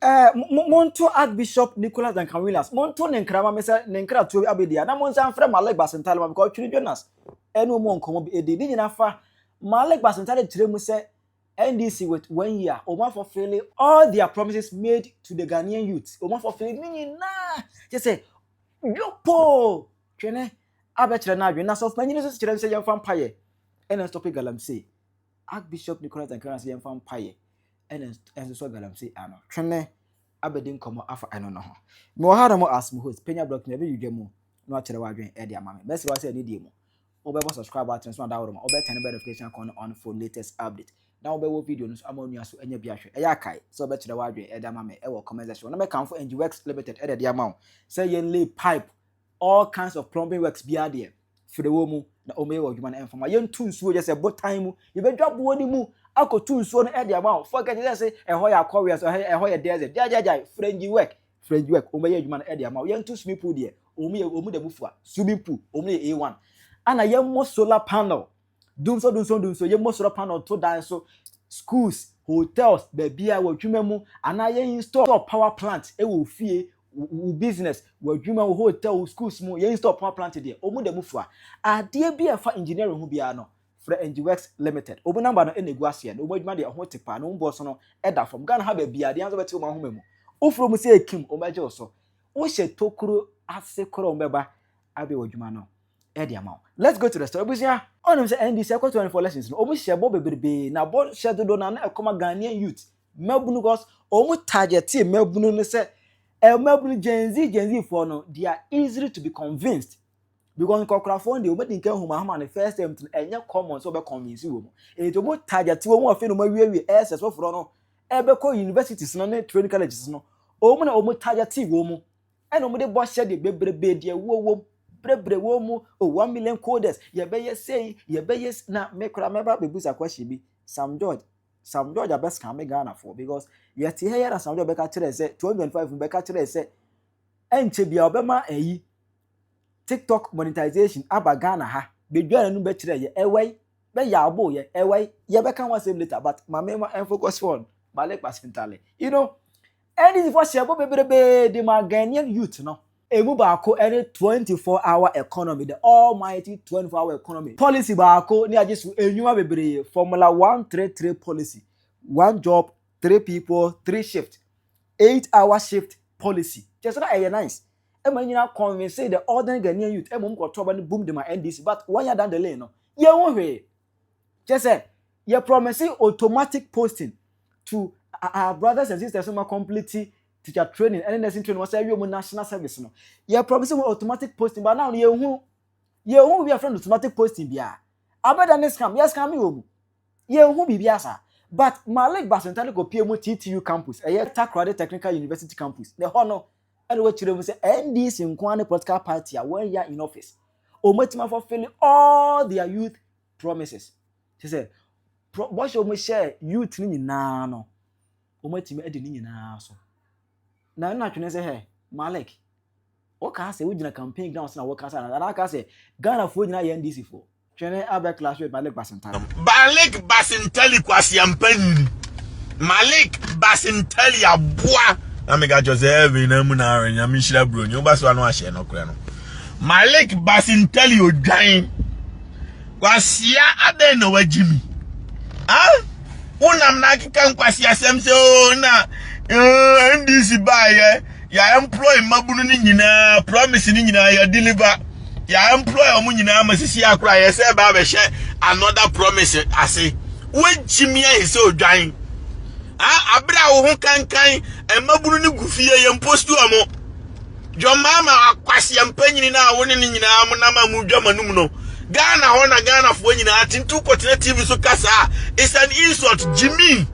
Eh, monto Archbishop Nicholas Duncan Williams, monto ne nkra ma me sɛ ne nkra tuo abɛdi a, na monsan mfrɛ Malik Basentale ma me, because Twiri Jonas ɛne wɔn wɔ nkɔmmɔ bi ɛdi. Ne nyinaa fa Malik Basentale kyerɛ mu sɛ NDC with one year, wɔn afɔ fele all their promises made to the Ghanaian youth. Wɔn afɔ fele ne nyinaa kyɛ sɛ yopoo twene abɛkyerɛ no adwene. Na sɔfo panyin nso kyerɛ sɛ yɛmfa mpaeɛ ɛna stɔpe galamsey. Archbishop Nicholas Duncan Williams yɛmfa mpaeɛ. ɛna ɛnsosɔ galamsey ano twene abɛdi nkɔmmɔ afa ɛno no ho. Mewɔ ha nom as mo host, Penya Block, na ɛbɛ dwudwa mu na wakyerɛ w'adwene ɛde ama me. Mɛsrɛ wa sɛ anidie mu, wobɛbɔ subscribe button so na daworo ma wobɛ turn bɛ notification icon no on for latest update. Na wobɛwɔ video no nso ama onua so anya bi ahwɛ. Ɛyɛ akae sɛ wobɛkyerɛ w'adwene ɛde ama me ɛwɔ comment section hɔ na mɛkamfo Engiwerx Limited ɛde ɛde ama wo sɛ yɛn lay pipe All kinds of plumbing works biara deɛ, fire wɔ mu na wɔyɛ wɔ adwuma no ɛmfa ma yɛntu nsuo yɛ sɛ botan mu yɛbɛdwa boɔ no mu akɔtu nsuo no ɛde ama wo forget it sɛ ɛhɔ yɛ akɔwea so ɛhɔ yɛ desert gyagyagyae frengi work frengi work wɔbɛyɛ adwuma no ɛde ama wo yɛntu swimming pool deɛ wɔn yɛ wɔn da mu fua swimming pool wɔn yɛ A1 ana yɛmmɔ solar panel Dumsɔ dumsɔ dumsɔ yɛ mo soro panel to dan so schools hotels baabi a wɔ adwuma mu anaa yɛ install power plant ɛwɔ ofie wo business wɔ adwuma wo hotel wo schools mu yɛ install power plant deɛ ɔmo da mu fua adeɛ bi a ɛfa engineering ho biara no frɛ engiworks limited ɔmo namba no ɛna egu aseɛ no ɔmo adwuma deɛ ɛho te paa na ɔmo bɔ so no ɛda fam Ghana ha baabi a deɛ anso bɛte ɔmo ahoma mu wofuro mu sɛ ekim ɔmo agye wo so wohyɛ tokuro ase korɔ ɔmo bɛba abɛwɔ adwuma no ɛde ama wo. Let's go to the story. Ebusua, ɔnim sɛ ND sɛ ɛkɔ 24 lessons no, ɔmu hyɛ bɔ bebrebe, na bɔ hyɛ dodo na na ɛkɔma Ghanaian youth, mmabunu cause ɔmu targetee mmabunu no sɛ, eh, mmabunu Gen Z, Gen Z foɔ no, they are easily to be convinced. Because nkɔkorafoɔ no deɛ ɔmu adi nka homa homa no first time to ɛnyɛ common sɛ ɔbɛ convince wɔ mu. Ɛti ɔmu targetee wɔ mu afei na ɔmu awiewie ɛsɛ soforɔ no ɛbɛkɔ universities no ne training colleges no. Ɔmu na ɔmu targetee wɔ mu. ɛna wɔde bɔ ahyɛdeɛ bebrebe deɛ ɛwoɔ wom brɛbrɛ wɔn mu o one million coders yɛbɛyɛ sei yɛbɛyɛ s- na me koraa mɛba bɛbusa question bi sam george sam george abɛsika me ghanafoɔ because yɛte ha yɛ na sam george bɛka kyerɛ sɛ 2025 mu bɛka kyerɛ sɛ ɛnkyɛ bia ɔbɛma ayi tiktok monetization aba ghana ha bɛdwa n'anom bɛkyerɛ yɛ ɛwɛi bɛyɛ abo yɛ ɛwɛi yɛbɛka ho asɛm later but ma me ma ɛmfocus on male kpasentale you know NDC foɔ hyɛɛ bɔ bebrebee de maa Ghanaian youth no. Ɛmu baako ne 24 hour economy, the almighty 24 hour economy policy baako ne agye so nnwuma bebree, Formula One Three Three policy, One job, three people, three shift, eight hour shift policy. Kyerɛ sɛ na ɛyɛ nice. Ɛma nyina convince the ordinary Ghanaian youth, ɛma wɔn kɔtɔ aba no bum de ma NDC but wɔn yɛ adan the lane no. Yɛnhu hwee. kyɛ sɛ yɛ promise automatic posting to our brothers and sisters ma complete teacher training ɛne nursing training wɔsɛ awie mu national service no yɛ promise wɔn automatic posting ba now yɛ hu yɛ hu bi afɛn automatic posting bia abɛda ne scam yɛ scam wɔ mu yɛ hu biribi asa but malik basentare kɔ pie mu ttu campus ɛyɛ takoradi technical university campus na ɛhɔ no ɛna wɔkyerɛ mu sɛ ndc nko ara ne political party a wɔn ya in office wɔn atumi afɔfili all their youth promises kyɛ sɛ bɔhyɛ wɔn hyɛ youth no nyinaa no wɔn atumi adi ne nyinaa so na ɛna atwene sɛ hɛ malik wɔka sɛ wogyina campaign ground sɛ na wɔka sɛ anaa aka sɛ ghanafoɔ nyinaa yɛ ndc foɔ Twene abɛ class with Malik Basintali. Malik Basintali kwasiampa nyini. Malik Basintali aboa. Na me gacho se heaven na mu na anya me shira bro nyi oba so anu ahye no kra no. Malik Basintali odwan. Kwasia aden na wajimi. Ah? Unam na akeka nkwasi asem se o oh, na eh, NDC ba ye. Yɛ employ mmabunu no nyinaa promise no nyinaa yɛ deliver. Yɛ employ wɔn nyinaa ma sisi akora yɛ sɛ ɛbaa bɛhyɛ another promise ase. Wogyimi ayi sɛ odwan. Ah, abere a wo ho kankan mmabunu no gu fie yɛ mpost wɔn. John Mahama akwasia mpanyini no a wo ne no nyinaa mo nam a mo dwa manum no. Ghana hɔ na Ghanafoɔ nyinaa te nti wokɔtena TV so kasa a it's an insult gyimi.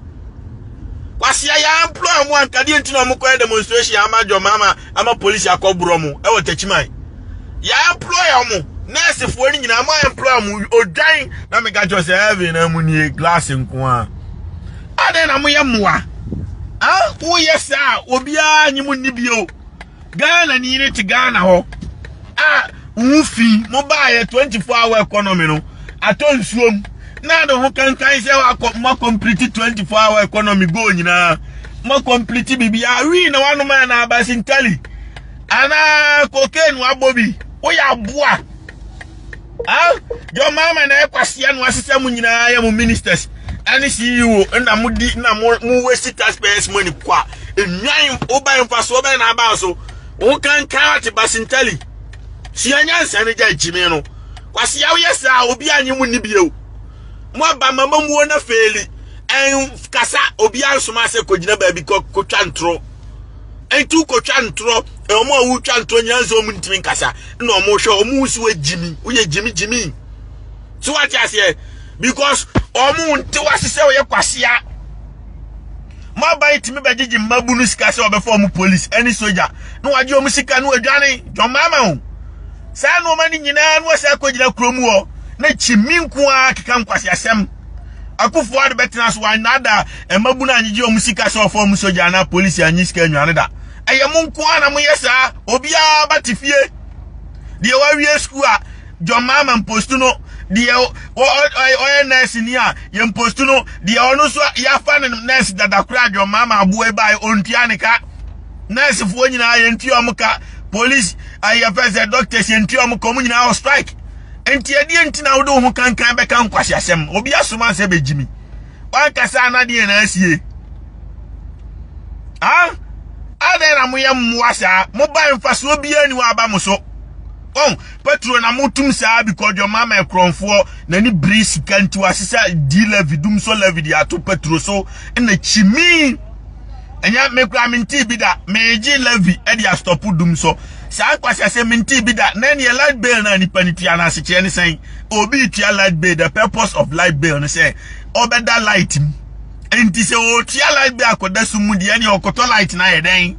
Kwasi a yɛamploy ɔmo anka deɛ nti na ɔmo kɔyɛ demonstration ama adwɔma ama ama polisi akɔborɔ mo ɛwɔ takyiman yɛamploy ɔmo nɛɛsefoɔ no nyinaa mo amploy ɔmo odwan na meka kyerɛ sɛ heaven na mu nie glass nko a adɛn na moyɛ mmoa a woyɛ saa obiara nye mo nni bio Ghana ni ne te Ghana hɔ a wo fi mo baayɛ 24 hour economy no atɔ nsuom na de ho kankan sɛ wakɔ mo complete 24 hour economy goal nyinaa mo complete biribiara wii na wanom a na aba sintali anaa cocaine wabɔ bi woyɛ aboa Ah, John Mahama na ɛkwasea no asesa mu nyinaa yɛ mo ministers ɛne CEO na mo di na mo mo waste taxpayers money kwa enwan oba mfasoɔ bɛn na aba so wo kankan ate basintali sua nyansa ne gya gyimi no kwasea woyɛ saa obi anye mu ni bio mo aba mama muo na feeli ɛn kasa obi ansoma sɛ kɔgyina baabi kɔ kɔtwa ntoro Enti wokɔtwa ntorɔ, wɔn a wotwa ntorɔ nyinaa nso wɔn ntumi nkasa, na wɔn hwɛ wɔn ho si wɔ gyimi, woyɛ gyimi gyimi. So wate aseɛ? Because wɔn nte wase sɛ wɔyɛ kwasea. Mo aban tumi bɛgyegye mmabu no sika sɛ wɔbɛfa wɔn polisi ɛne soja na wɔagye wɔn sika na wɔadwane John Mahama Saa nneɛma no nyinaa na wɔsɛ akɔgyina kurom hɔ na kyimi nko ara keka nkwaseasɛm. Akufoɔ ade bɛtena so wɔanada Mmabunu angyegye wɔn sika sɛ ɔfɔm sogya anaa polisi anyi sika nnwa no da. Ɛyɛ mo nko ara na moyɛ saa. Obiara ba te fie. Deɛ wawie sukuu a John Mahama mpostu no, deɛ ɔyɛ nɛɛse ni a yɛ mpostu no, deɛ ɔno nso yɛafa no nɛɛse dada koraa John Mahama aboa yi baeɛ ɔntua ne ka. Nɛɛsefoɔ nyinaa yɛntua wɔn ka. Polisi ayɛ fɛ sɛ doctors yɛntua wɔn ka wɔn nyinaa wɔ strike. Nti ɛdeɛ nti na wode wo ho kankan bɛka nkwasi asɛm. Obi asoma sɛ bɛgyi mi. Wankasa na deɛ na asie. Ah, adɛn na moyɛ mmoa saa? Moba mfasoɔ biara ni waba mo so. Oh, Petro na motum saa bi kɔdwɔ ma ma ɛkorɔnfoɔ na ni biri sika nti wasesa di Levi dum so Levi de ato Petro so na kyimi. Ɛnyɛ me kura menti bi da meegye Levi de astɔpo dum so. Saa nkwasi ase menti bi da na ɛneɛ light bill na nipa ne tua na asekyerɛ ne sɛn. obi retua light bill the purpose of light bill no sɛ ɔbɛda light mu nti sɛ ɔretua light bill akɔda so mu deɛ ne ɔkɔtɔ light no ayɛ dɛn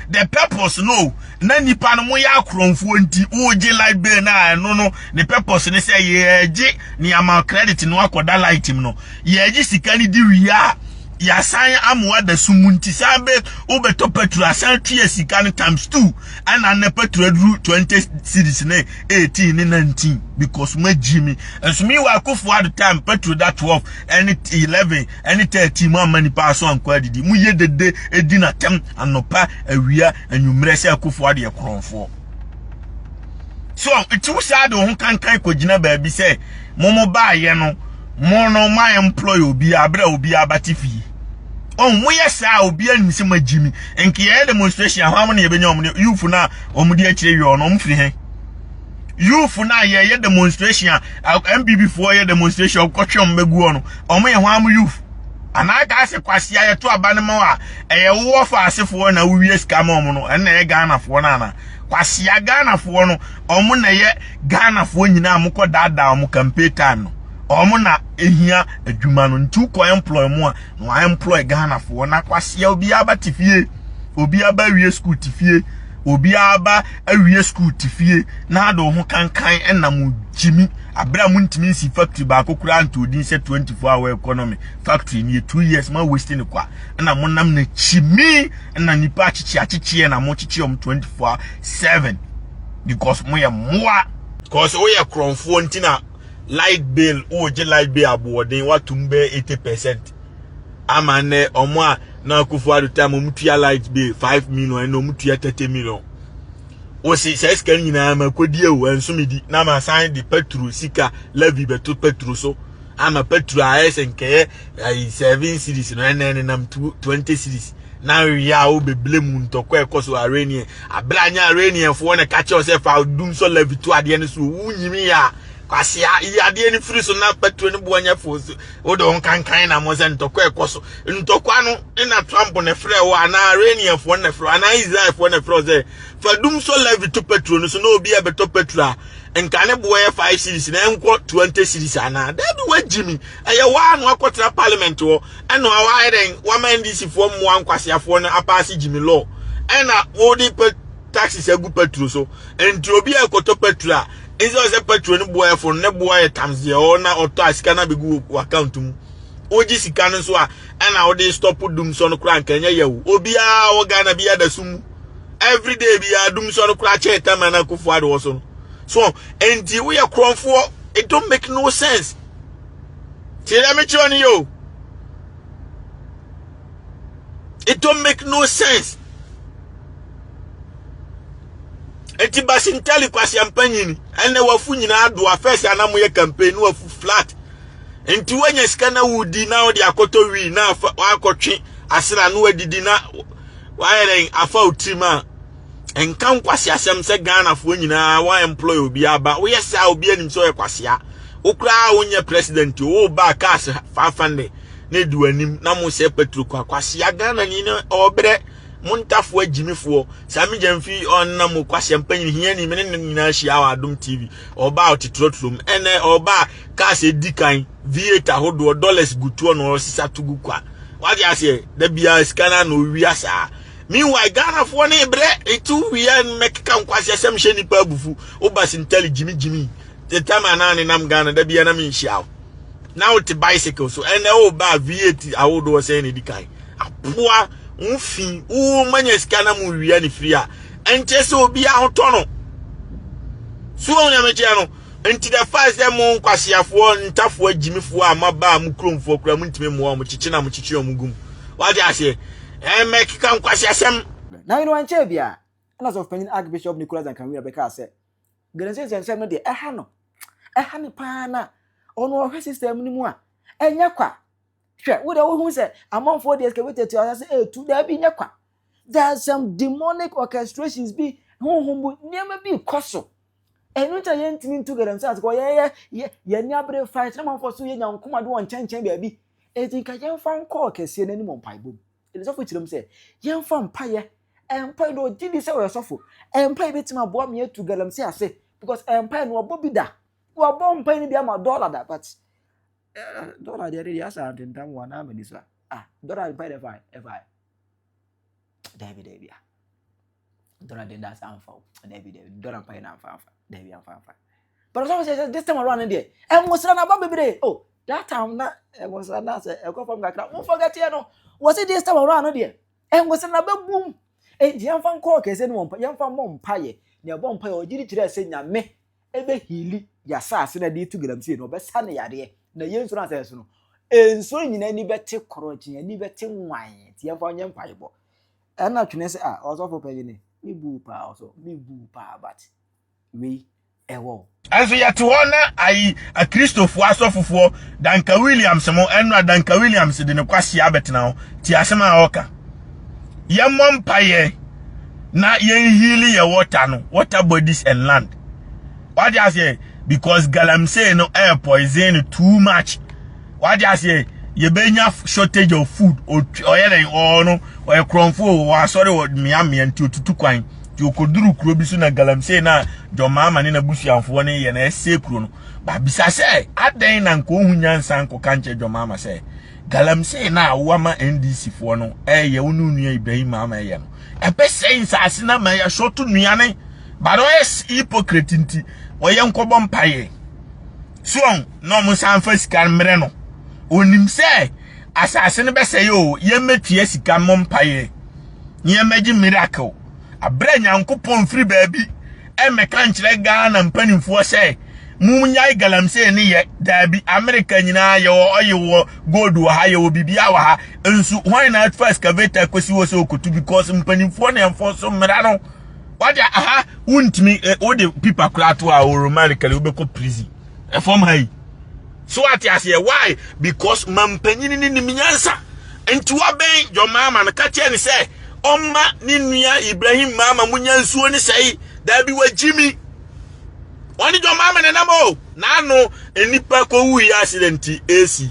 the purpose no na nipa no mo yɛ akorɔmfoɔ nti wogye light bill no a ɛno no ne purpose ne sɛ yɛgye ne ama credit no akɔda light mu no yɛgye sika no di wie a yɛasan amoa da so mu nti san bɛ wobɛtɔ petrol asan tua sika no times two ɛna nnɛ petro aduru twenty series ne eighteen ne nineteen because magyi mi nso mi wɔ akofo ado time petro da twelve ɛne eleven ɛne thirteen mu ama nipa aso ankɔ adidi mu yɛ dede edi na tɛm anɔpa awia anwummerɛ sɛ akofo adeɛ korɔnfoɔ so nti wosaa de wo ho kankan kɔgyina baabi sɛ mo mo baayɛ no mo no ma employ obi abere obi abate fie ɔn mo yɛ saa a obi anim sɛ mo agyi mi nka yɛyɛ demonstration ahwa mo na yɛbɛnya wɔn no youth no a wɔn di akyire wiɔ no wɔn firi hɛn youth no a yɛyɛ demonstration a mpp foɔ yɛ demonstration ɔkɔtwe wɔn bɛgu hɔ no wɔn yɛ hwan mo youth anaa kaa sɛ kwasi a yɛto aba no ma a ɛyɛ wowɔ fa asefoɔ na wowie sika ma wɔn no ɛnna ɛyɛ ghanafoɔ no ana kwasi a ghanafoɔ no wɔn na ɛyɛ ghanafoɔ nyinaa mokɔ daadaa wɔn campaign time no wɔn na ehia adwuma no nti wokɔ employ mu a na wɔn employ ghanafoɔ na kwasia obiara ba te fie obiara ba awie school te fie obiara ba awie school te fie na ade ho kankan ɛna mo gyimi abere a mo ntumi nsi factory baako koraa nto odin sɛ 24 hour economy factory ni two years ma waste ne kwa ɛna mo nam na kyimi ɛna nipa akyekye akyekye na mo kyekye wɔn 24 7 because mo yɛ mmoa because woyɛ korɔnfoɔ nti na light bill wogye light bill aboɔden watom bɛyɛ eighty percent ama nnɛ ɔmo a na akufo ado tam ɔmo tua light bill five million ɛna ɔmo tua thirty million wosi sɛ sika no nyinaa ma kodi ewu nsomidi na ma san de petro sika levy bɛto petro so ama petro ayɛ sɛ nkɛyɛ ayi seven series no ɛnɛ nenam twenty series na nwi a wobɛbile mu ntɔkwa ɛkɔ so arenie abere anyɛ areniɛfoɔ na ka kyerɛ sɛ fa dum sɔ lavi to adeɛ no so wo nyimi a kwasea yi adeɛ no firi so na paturo no boɔ nyɛ fo so wode wo nkankan na mo sɛ ntɔkwa ɛkɔ so ntɔkwa no na trump na frɛ wo anaa areniɛfoɔ na frɛ anaa israelfoɔ na frɛ sɛ fa dum sɔ lavi to paturo no so na obi a bɛtɔ paturo a nka ne boɔ yɛ 5 series na ɛnkɔ 20 series anaa daabi wagyimi ɛyɛ waa no akɔtra parliament hɔ Ɛno a wayɛ dɛn? Wama NDC foɔ mmoa nkwaseafoɔ no apaase Jimmy law. Ɛna wode pɛ taxes agu petro so. Nti obi a ɛkɔtɔ petro a, nso ɔsɛ petro no boɛfo no, ne boa yɛ tams deɛ ɔwɔ na ɔtɔ a sika no abɛgu wɔ account mu. Wogye sika no nso a, ɛna wode stop dum sɔ no koraa nka ɛnyɛ yɛ wo. Obiara wɔ Ghana bi ada sum mu. Every day biara dum sɔ no koraa kyɛn tam a na akufo ade wɔ so no. So, nti woyɛ korɔmfoɔ. It don't make no sense. Tie dɛ mekyerɛ no yɛ o. It don't make no sense. Eti Basintali kwasiampa nyini ɛnna wafu nyinaa adoa fɛs ana moyɛ campaign no wafu flat. Nti woanya sika na wodi na wode akɔtɔ wii na wakɔtwe asra no adidi na wayɛ dɛn afa otirim a nka nkwasi asɛm sɛ ghanafoɔ nyinaa wɔn employ obi aba woyɛ saa obi anim sɛ ɔyɛ kwasia wokoraa wonyɛ president wo ba cars fafande na edi w'anim na mo sɛ petro kwa kwasia ghana ni na ɔbrɛ mo ntafoɔ agyimifoɔ saa me gya mfi ɔnna mo kwasia mpanyin hia ni mene ne nyinaa hyia wɔ adom tv ɔba a ɔtetrɔtrɔ mu ɛnɛ ɔba a cars edi kan v8 ahodoɔ dollars gutoɔ na ɔsesa to gu kwa wagye aseɛ da biara sika no a na ɔwia saa Meanwhile Ghanafoɔ no rebrɛ reto wia mɛkeka nkwaseasɛm hyɛ nnipa abufu woba sintali gyimi gyimi the time a na nenam Ghana da bia na menhyia wo na wote bicycle so ɛnɛ woba a V8 ahodoɔ sɛn na ɛdi kan apoa wo fi wo manya sika na mo wia ne firi a ɛnkyɛ sɛ obi ahotɔ no so wɔn nyamekyeɛ no nti the fact sɛ mo nkwaseafoɔ ntafoɔ agyimifoɔ a maba a mo kuromfoɔ kura mo ntumi mmoa wɔn kyekye na mo kyekye wɔn gum wate aseɛ Ɛmɛ keka nkwaseasɛm. Na eno ankyɛɛ biara na Sɔfopanyin Archbishop Nicholas Duncan Weir bɛkaa sɛ, Galamsey nsɛmnsɛm no deɛ ɛha no, ɛha no paa na ɔno ɔhwɛ system no mu a, ɛnyɛ kwa. Hwɛ, wo deɛ wohu sɛ amanfoɔ de excavator tu asase ɛretu, daabi nyɛ kwa. There are some demonic orchestrations bi, honhom mu nneɛma bi rekɔ so. Ɛno nti na yɛntumi ntu galamsey ase kɔ yɛyɛ yɛ yɛn abere fa ɛsɛ ma nfa so yɛ nyankoma de wɔn nkyɛnkyɛn baabi eti nka yɛnfa nkɔ kɛseɛ n'anim mpaebɔ mu ɛdi sɔfo kyerɛ mu sɛ yɛnfa mpaeɛ mpaeɛ na ɔgye di sɛ ɔyɛ sɔfo mpaeɛ betumi aboa mi atu galamsey ase because mpaeɛ no ɔbɔ bi da ɔbɔ mpaeɛ no bi ama dɔla da but eh, dɔla deɛ ɛde deɛ asa ntentam wɔn anaa mɛ ni so a ah dɔla mpaeɛ deɛ ɛfa ɛfa. Dabi, dabi ah. Dora de das amfa o. Dabi, dabi. Dora mpa yɛ na amfa amfa. Dabi amfa amfa. But so say this time around there. E mo sra na ba bebre. Oh, that time na e mo sra na say e go from kakra. Mo forget here no. Was it this time around there? E mo sra na ba boom. E di amfa nko kese no mpa. Yamfa mo mpa ye. Na e bo mpa ye o giri kire se nyame. ɛbɛ hiili yasaase na ɛde to galamsey no ɔbɛsa ne yadeɛ na yɛn nsuo no asɛ so no nsuo nyinaa ani bɛte korɔgye ani bɛte nwan nti yɛmfa ɔnyɛ mpaebɔ ɛna twene sɛ a ɔsɔfo pɛgye ne me bu paa ɔsɔ me bu paa but wei ɛwɔ ɛnso yɛte hɔ na ayi akristofoɔ asɔfofoɔ danka williams mo ɛnora danka williams de ne kwasea abɛtena hɔ ti asɛm a ɔka yɛmmɔ mpaeɛ na yɛnhili yɛ water no water bodies and land wade aseɛ because galamsey no air eh, poison no too much wade aseɛ yɛbɛnya shortage of food ɔyɛ dɛn ɔɔ no ɔyɛ korɔmfoɔ wɔ asɔre wɔ mmeammea nti ɔtutu kwan nti ɔkɔduru kuro bi so na galamsey no a dɔmaama ne n'abusuafoɔ no yɛ na ɛsɛ kuro no babisa sɛ adɛn na nka ɔhu nyansa nkɔka nkyɛ dɔmaama sɛ Galamsey no a woama NDC foɔ no ɛyɛ wo ne onua Ibrahim Mahama ɛyɛ no ɛbɛsɛe nsaase no ama yɛ short nnuane but ɔyɛ hypocrite nti ɔyɛ nkɔbɔ mpaeɛ so ɔn na ɔmo san fa sika no mmerɛ no onim sɛ asaase no bɛsɛe o yɛmmɛtua sika mmɔ mpaeɛ na yɛmmɛgye miracle aberɛ nyankopɔn firi baabi ɛmmɛka nkyerɛ ghana mpanimfoɔ sɛ monnyae galamsey ne yɛ daabi amerika nyinaa yɛwɔ ɔye wɔ gold wɔ ha yɛwɔ biribiaa wɔ ha nso hwan na fa excavator kɔsi hɔ sɛ ɔkɔtu because mpanimfoɔ ne ɛmfo so mmara no wade aha wontumi wode pipa koraa to a wɔromarikali wobɛkɔ prison ɛfam ha yi so ate aseɛ why because mampanyini ne nim nyansa nti wabɛn john maama no ka kyerɛ ne sɛ ɔmma ne nua ibrahim maama mu nya nsuo ne sɛe daabi wagyi mi ɔne john maama ne nam o n'ano nnipa kɔwu yi accident esi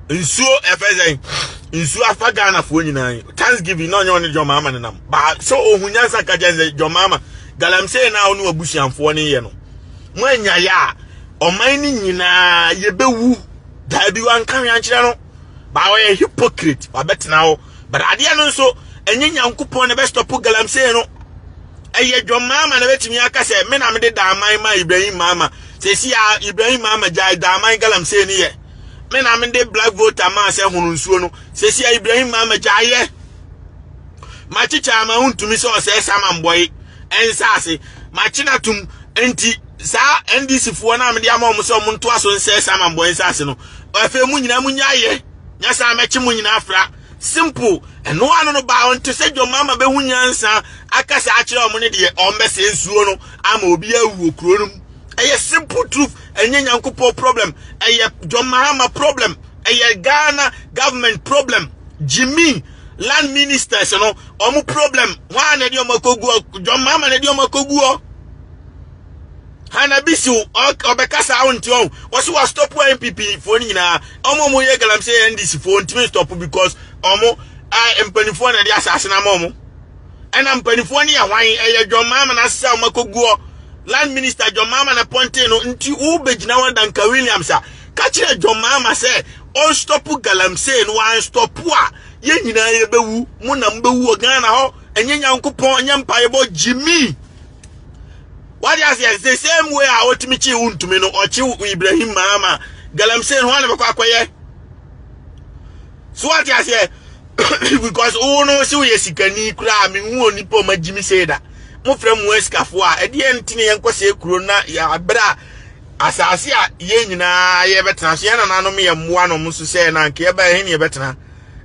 nsuo ɛfɛ sɛn nsuo afa ghanafoɔ nyinaa thanksgiving na ɔnyɛ ɔne john maama ne nam baa so ohun nyansa ka kyerɛ ne sɛ john maama galamsey na ɔno abusuanfoɔ no yɛ no mo anya yɛ a ɔman no nyinaa yɛbɛwu daabi wanka hwɛ ankyerɛ no baa ɔyɛ hypocrite wabɛtena hɔ but adeɛ no nso ɛnyɛ nyankopɔn na ɛbɛstɔpo galamsey no ɛyɛ dwɔn maama na ɛbɛtumi aka sɛ me na mede daaman ma ibrahim maama sɛsi a ibrahim maama gyae daaman galamsey no yɛ me na mede black voter maa sɛ hono nsuo no sɛsi a ibrahim maama gyaeɛ makyekyɛ ama wontumi sɛ ɔsɛe saman bɔe nsase makye no atom nti saa ndc foɔ no a mede ama wɔn sɛ wɔn ntoa so nsɛe saman bɔe nsase no afei mu nyinaa mu nyaayɛ nyasa mɛkye mu nyinaa fra simple ɛno ano no baa wɔn te sɛ dwom ama bɛhu nyansa akasa akyerɛ wɔn ne deɛ wɔn bɛsɛ nsuo no ama obi awu wɔ kuro no mu Ɛyɛ simple truth ɛnyɛ Nyankopɔn problem ɛyɛ John Mahama problem ɛyɛ Ghana government problem Jimmy land ministers no ɔmo problem hɔn a na ɛde ɔmo akɔgu John Mahama na ɛde ɔmo akɔgu hɔ Hanabisi ɔbɛkasa awo nti ɔn ɔsi wa stop wa NPP foɔ no nyinaa ɔmo ɔmo yɛ galamsey NDC foɔ ntumi stop because ɔmo mpanimfoɔ na ɛde asase na ama ɔmo. Ɛna mpanimfoɔ no yɛ hwan? Ɛyɛ John Mahama no asesa wɔn akɔguɔ land minister John Mahama na pɔnten no nti wobɛgyina hɔ Danka Williams a ka kyerɛ John Mahama sɛ ɔnstɔpo galamsey no wanstɔpo a yɛn nyinaa yɛbɛwu mo na mobɛwu wɔ Ghana hɔ ɛnyɛ Nyankopɔn ɛnyɛ mpaebɔ Jimmy wade aseɛ the same way a ɔtumi kyi wo ntumi no ɔkye Ibrahim Mahama galamsey no hɔ a na bɛkɔ akɔyɛ So wate aseɛ because wo no sɛ woyɛ sikani koraa mehu onipa ɔma gyimi sei da mofrɛ mu asikafoɔ a ɛdeɛ nti ne yɛnkɔ sɛ kuro na yɛabrɛ a asase a yɛn nyinaa yɛbɛtena so yɛn nananom yɛ mmoa nom nso sɛ na anka yɛbɛyɛ he ne yɛbɛtena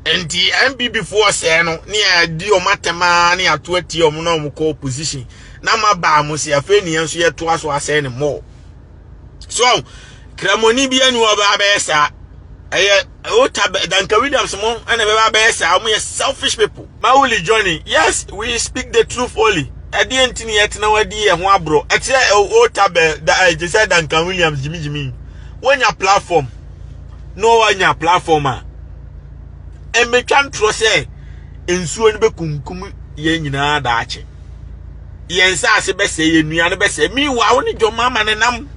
nti npp foɔ sɛɛ no ne yɛadi ɔm atɛmaa ne ato atie ɔm na ɔm kɔ opposition na ma baa mo se afei ne yɛn nso yɛtoa so asɛe ne mmɔɔ so ɔn kramoni bi anu ɔba abɛyɛ saa ɛyɛ ota danka williams mo ɛna bɛba abɛyɛ saa wɔn yɛ selfish people mawuli johnny yes we speak the truth only ɛdeɛ nti ni ɛtena wɔn adi yɛ ho aborɔ ɛkyerɛ ota bɛ da ɛgye sɛ danka williams gyimigyimi wɔnya platform na wɔnya platform a ɛmɛtwa ntorɔ sɛ nsuo no bɛkunkum yɛn nyinaa daakye. yɛn nsaase bɛsɛe yɛn nnuan no bɛsɛe miwa wo ne dwom ama ne nam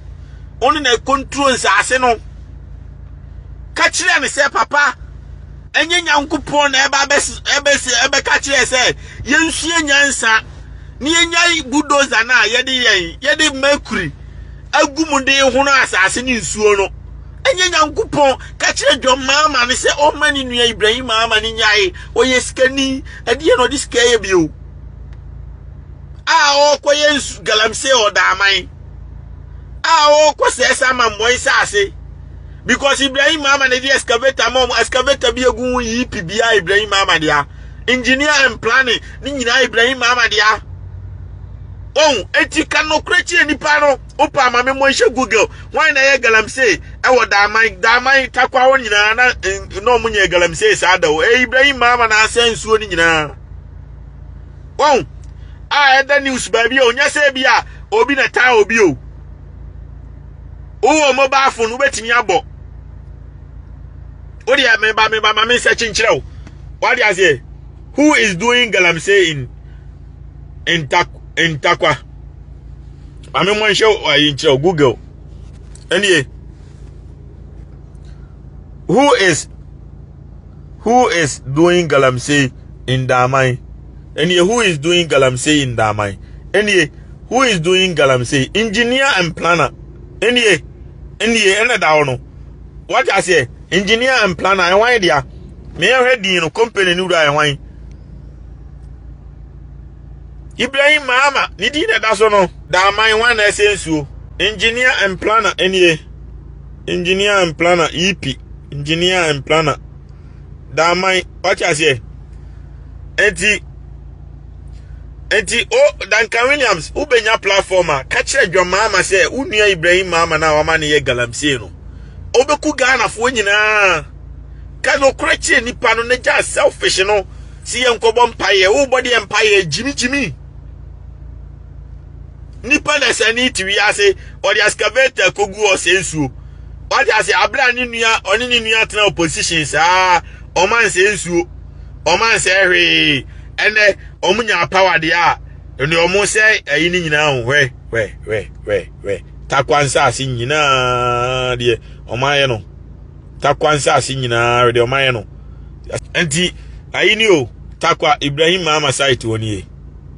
wo ne na ɛkonturo nsaase no ka kyerɛ ne sɛ papa ɛnyɛ nyankopɔn na ɛba ɛbɛsi ɛbɛka kyerɛ sɛ yɛnsua nyansa ne yɛnya budoza no a yɛde yɛn yɛde mercury agu mu de hono asaase ne nsuo no ɛnyɛ nyankopɔn ka kyerɛ dwom maama ne sɛ ɔma ne nua ibrahim ama ne nyae ɔyɛ sikani ɛdeɛ na ɔde sika yɛ bio a ɔrekɔyɛ nsu galamsey ɔdaaman a ɔrekɔ sɛɛ saa mammɔn saase because ibrahim mama na ɛde excavator ma ɔmo excavator bi egu ho yi pi biara ibrahim mama dea engineer and planning ne nyinaa ibrahim mama dea ohun eti ka nokura kyerɛ nipa no opa ama me mo nhyɛ google wɔn na ɛyɛ galamsey ɛwɔ daaman daaman takwa hɔ nyinaa na na ɔmo nyɛ galamsey saa da o ɛyɛ ibrahim mama na asɛn nsuo no nyinaa. wɔn a ɛda news baabi a ɔnyɛ sɛ bi a obi na taa obi o wowɔ mobile phone wobɛtumi abɔ wodeɛ meba meba ma me nsɛ kyenkyerɛ wo wade aseɛ who is doing galamsey in in tak in takwa ma me mmɔ nhyɛ ayi nkyerɛ wo google ɛnie who is Who is doing galamsey in Daaman? Ɛneɛ who is doing galamsey in Daaman? Ɛneɛ who is doing galamsey? Engineer and planner. Ɛneɛ ɛneɛ ɛna da hɔ no. Wate aseɛ? Engineer and planner ɛhwan dea? Meɛhwɛ din no company no wura ɛhwan? Ibrahim Mahama ne din na ɛda so no. Daaman hwan na ɛsɛ nsuo? Engineer and planner ɛneɛ. engineer and planner ep engineer and planner daman wate aseɛ eti eti o oh, duncan williams wobɛnya platform a ka kyerɛ dwa maama sɛ wo nua ibrahim maama no a wama no yɛ galamsey no wobɛku ghanafoɔ nyinaa ka nokorɛ kyerɛ nipa no na gya selfish no si yɛ nkɔbɔ mpaeɛ wobɔ deɛ mpaeɛ gyimigyimi nipa na sani te wiase ɔde excavator kogu hɔ sɛ nsuo wate ase abere a ne nua ɔne ne nua tena opposition saa ɔmo ansɛ nsuo ɔmo ansɛ hwee ɛnɛ ɔmo nya power deɛ a ɛne ɔmo sɛ ɛyi ne nyinaa ho hwɛ hwɛ hwɛ hwɛ hwɛ takwa nsaase nyinaa deɛ ɔmo ayɛ no takwa nsaase nyinaa deɛ ɔmo ayɛ no nti ayi ni o takwa ibrahim maama site wɔ nie.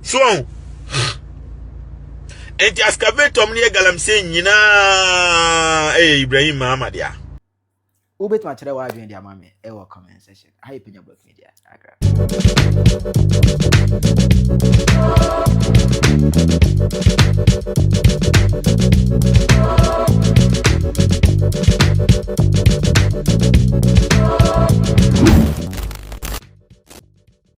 so ɔn enti excavator mu no yɛ galamsey nyinaa ɛyɛ Ibrahim Mahama dea. Wobɛtumi akyerɛ w'adwene de ama me ɛwɔ comment section. Ha yɛ Penya Blog Media. Agra.